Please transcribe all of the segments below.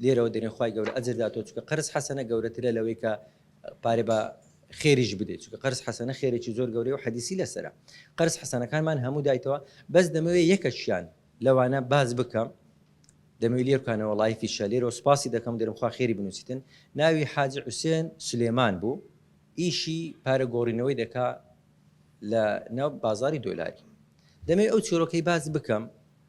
لێرەوە دەرێن خوای گەورە ئەجر داتۆ چکە قەرز حەسەنە گەورەترە لەوەی کە پارێ بە خێریش بدەیت چکە قەرز حەسەنە خێرێکی زۆر گەورەی و حەدیسی لەسرە قەرز حەسەنەکانمان هەموو دایتەوە بەس دەمەوێت یەکەشیان لەوانە باز بکەم دەمەوی لێرکانەوە لایفی شەلێرەوە سپاسی دەکەم دەرمخوا خێری بنووسیتن ناوی حاجی حوسێن سلێمان بوو ئیشی پارە گۆڕینەوەی دەکا لە ناو بازاری دۆلاری دەمەوێت ئەو چۆرۆکەی باز بکەم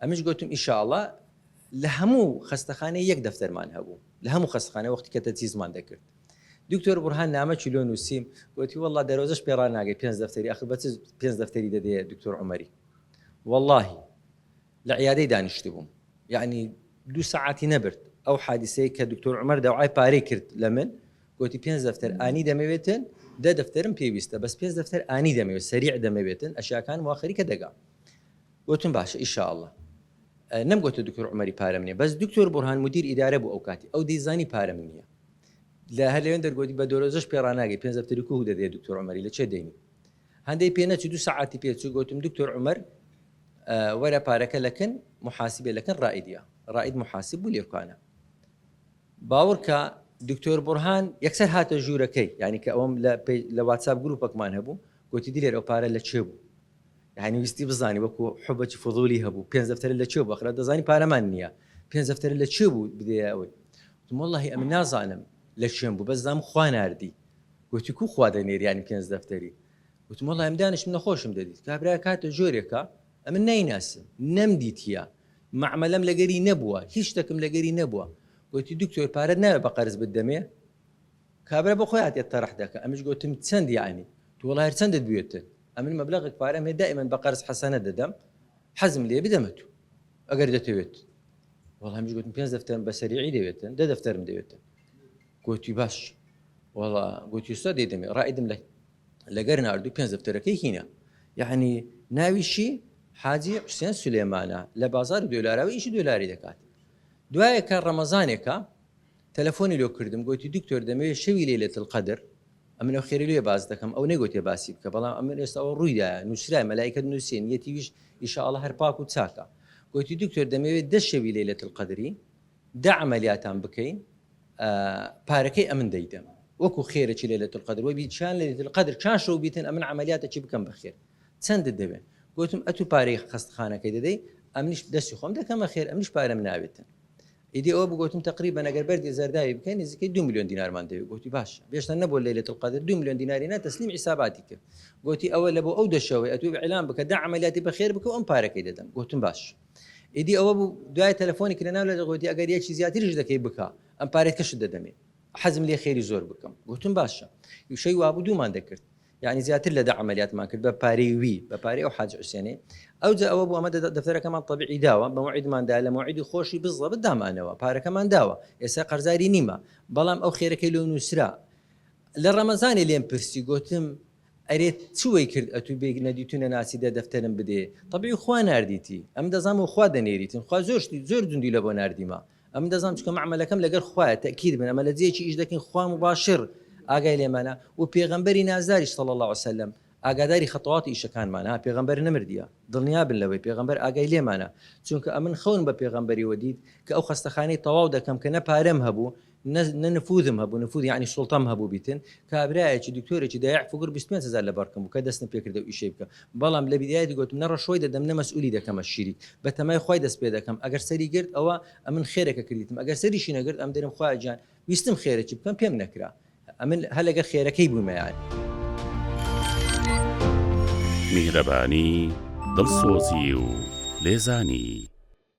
ئەمنیش گۆتم ئیشاڵا لە هەموو خەستەخانەی یەک دەفتەرمان هەبوو لە هەموو خەستخانە وەختی کە تەجیزمان دەکرد دکتۆر بڕهان نامە چلۆ نووسیم گوتی والله دەرۆزش پێڕان ناگەی پێنج دەفتەری ئەخر بەچ پێنج دەفتەری دەدەیە دکتۆر عمەری واللهی لە عیادەی دانیشت بووم یعنی دوو سەعاتی نەبرد ئەو حادیسەیە کە دکتۆر عمەر داوای پارەی کرد لە من گوتی پێنج دەفتەر ئانی دەمەوێتن دە دەفتەرم پێویستە بەس پێنج دەفتەر ئانی دەمەوێت سەریع دەمەوێتن ئەشیاکان واخری کە دەگا گۆتم باشە ئیشا اللە. نەم گۆتە دکتۆر عومەری پارەم نیە بەس دکتۆر بورهان مدیر ئیدارە بوو ئەو کاتی ئەو دەیزانی پارەم نیە لە هەر لەوێن دەرگۆتی بە دۆرۆزەش پێ ڕاناگەی پێنج دەفتەری کوه دەدێ دکتۆر عومەری لە چێ دێنی هەندەی پێ نەچوو دوو سەعاتی پێ چوو گۆتم دکتۆر عومەر وەرە پارەکە لەکن محاسبێ لەکن ڕائیدە ڕائید محاسب بوو لێرکانە باوڕکە دکتۆر بڕهان یەکسەر هاتە ژوورەکەی ینی کە ئەوم لە واتساب گروپەکمان هەبوو گوتی دیلێر ئەو پارە لە چێ بوو یانی ویستی بزانی وەکو حبەچی فضولی هەبوو پێنج دەفتەر لە چێ بخرا دەزانی پارەمان نییە پێنج دەفتەر لە چێ بوو بدەیە ئەوەی وتم واللهی ئەمن نازانم لە چێم بوو بەس زانم خوا ناردی وتی کو خوا دەنێریانی پێنج دەفتەری وتم واللهی ئەم دانیشتم نەخۆشم دەدیت کابرا کاتە جۆرێکە ئەمن نایناسم نەمدیتیە معمەلەم لەگەری نەبووە هیچ شتەکم لەگەری نەبووە وتی دکتۆر پارەت ناوێ بە قەرز بدەمێ کابرا بۆ خۆی هاتیە تەڕح دەکا ئەمنیش گۆتم چەند یەعنی تو وەڵا هەر چەندت بوێتن ئەمن مەبلەغێک پارەم هەیە دائیمەن بە قەرز حەسەنە دەدەم حەزم لێیە بدەمە تو ئەگەر دەتەوێت وەڵا ئەمنیش گۆتم پێنج دەفتەرم بە سەریعی دەوێتن دە دەفتەرم دەوێتن گۆتی باش وەڵا گۆتی ئوستا دەیدەمێ ڕائیدم لە لەگەر ناردو پێنج دەفتەرەکەی هینە یەعنی ناویشی حاجی حوسێن سولێمانە لە بازاری دۆلاراوی ئیشی دۆلاری دەکات دوایەکە ڕەمەزانێکە تەلەفۆنی لۆ کردم گۆتی دکتۆر دەمەوێ شەوی لەیلەت القدر ئەمن ئەو خێرەی لۆیە باس دەکەم ئەو نەیگۆتێ باسی بکە بەڵام ئەمن ئێستا ئەوە ڕووی دایە نوسرایە مەلائیکەت نوسیە نیەتیویش ئیشا اللە هەر پاک و چاکە گۆتی دکتۆر دەمەوێ دە شەوی لەیلەت القدری دە عەمەلیاتان بکەین پارەکەی ئەمن دەیدەم وەکو خێرەکی لەیلەت القدر وە بی چیان لەیلەت القدر چان شەو بیتن ئەمن عەمەلیاتەکی بکەم بەخێر چەندت دەوێ گۆتم ئەتو پارەی خەستخانەکەی دەدەی ئەمنیش دەستی خۆم دەکەمە خێر ئەمنیش پارەم ناوێتن ئیدی ئەوە بگوتم تەقریبەن ئەگەر بەردی زەرداوی بکەین نزیکەی دوو ملیۆن دینارمان دەوێت گوتی باشە بێشتان نەبوو لەیلەت القەدر دوو ملیۆن دیناری نا تەسلیم حیساباتی کرد گوتی ئەوە لە بۆ ئەو دەشەوەی ئەتوو ئیعلان بکە دە عەمەلیاتی بەخێر بکە و ئەم پارەکەی دەدەم گوتم باش ئیدی ئەوە بوو دوای تەلەفۆنی کە لەناو لە دەگوتی ئەگەر یەکی زیاتریش دەکەی بکە ئەم پارەکەشت دەدەمێ حەزم لێ خێری زۆر بکەم گوتم باشە یوشەی وابوو دوومان دەکرد یانی زیاتر لە دە عەمەلیاتمان کرد بە پارەی وی، بە پارەی ئەو حاجی حوسێنەی. ئەوجا ئەوە بوو ئەمە دەفتەرەکەمان تەبعی داوە، مەوعیدمان دا، لە مەوعیدی خۆشی بزڵەبت دامانەوە، پارەکەمان داوە، ئێستا قەرزاری نیمە، بەڵام ئەو خێرەکەی لۆ نووسرا. لە ڕەمەزانێ لێم پرسی، گۆتم، ئەرێ چ وەی کرد ئەتوو بێ نەدیت و نەناسی دە دەفتەرم بدێ؟ تەبعی خوا ناردیتی، ئەمن دەزانم و خوا دەنێریتن، خوا زۆر شتی زۆر دوندی لە بۆ ناردیمە. ئەمن دەزانم چکە مەعمەلەکەم لەگەر خوایە تەکید بن ئەمە لە جێکی ئیش دەکەین خوا مباشر ئاگای لێمانە و پێغەمبەری نازداری صلی الله عليه وسلم ئاگاداری خەتەوات و ئیشەکانمان ها پێغەمبەر نەمردیە دڵنیا بن لەوەی پێغەمبەر ئاگای لێمانە چونکە ئەمن خەون بە پێغەمبەری وەدیت کە ئەو خەستەخانەی تەواو دەکەم کە نە پارەم هەبوو نە نفوذم هەبوو نفوذ یعنی سوڵتەم هەبوو بیتن کابرایەکی دکتۆرێکی دایع فکر 25 هزار لە بەرکم بوو کە دەستم پێکردە و ئیشەی بکە بەڵام لە بیدایەتی گۆتم نە ڕەشۆی دەدەم نە مەسئولی دەکەمە شیری بە تەمای خوای دەست پێ دەکەم ئەگەر سەری گرت ئەوە ئەمن خێرەکە کردیتم ئەگەر سەریشی نەگرت ئەم دەرم خوایە گیان ویستم خێرەکی بکەم پێم نەکرا ئەمن هەر لەگەر خێرەکەی بوویمە یان. میهرەبانی دڵسۆزی و لێزانی.